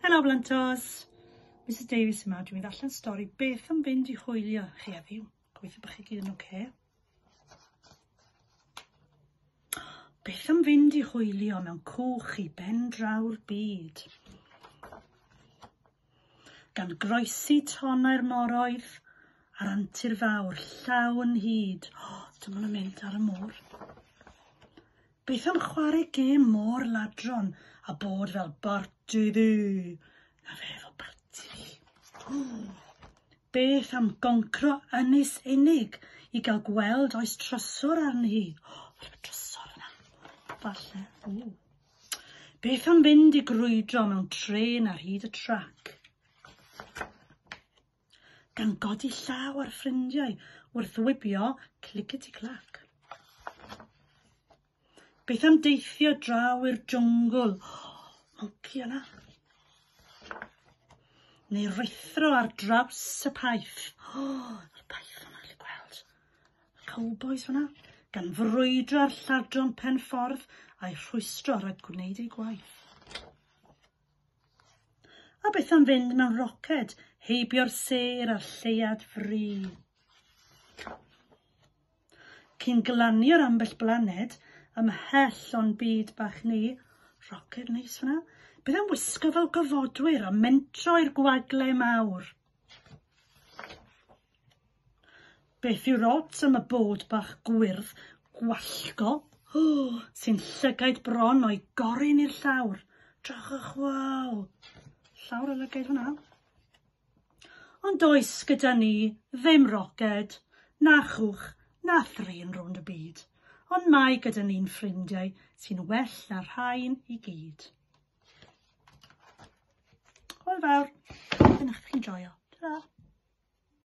Helo Blantos! Mrs Davies yma, dwi'n mynd allan stori beth yn fynd i hwylio chi heddiw. Gweithio bych chi gyd yn oce. Beth yn fynd i hwylio mewn cwch i ben draw'r byd? Gan groesi tonau'r moroedd a'r antur fawr llaw yn hyd. Oh, dyma nhw'n mynd ar y môr. Beth am chware gêm mor ladron a bod fel barti ddu? Na fe efo barti fi. Beth am goncro ynys unig i gael gweld oes trysor arni hi? O, fel y trysor yna. Falle. Ww. Beth am fynd i grwydro mewn tren ar hyd y trac? gan godi llaw ar ffrindiau wrth wibio clickety-clack. Beth am deithio draw i'r jwngl? Monci yna. Neu rwythro ar draws y paith. O, oh, yr paith yna, chi gweld. Cowbois yna, gan frwydro ar lladron pen ffordd a'i rhwystro rhag gwneud ei gwaith. A beth am fynd mewn roced, heibio'r sêr a'r lleuad fri? Cyn glanio'r ambell blaned, ymhell o'n byd bach ni, roced neis fyna, beth am wisgo fel gofodwyr a mentro i'r gwagle mawr? Beth yw'r odds am y bod bach gwyrdd gwallgo oh, sy'n llygaid bron o'i gorin i'r llawr? Drachwch, waw! Llawr y lygaid hwnna. Ond oes gyda ni ddim roced, na chwch, na thrin rownd y byd, ond mae gyda ni'n ffrindiau sy'n well na rhain i gyd. Hwyl fawr. Dyna chi'n joio. Tara.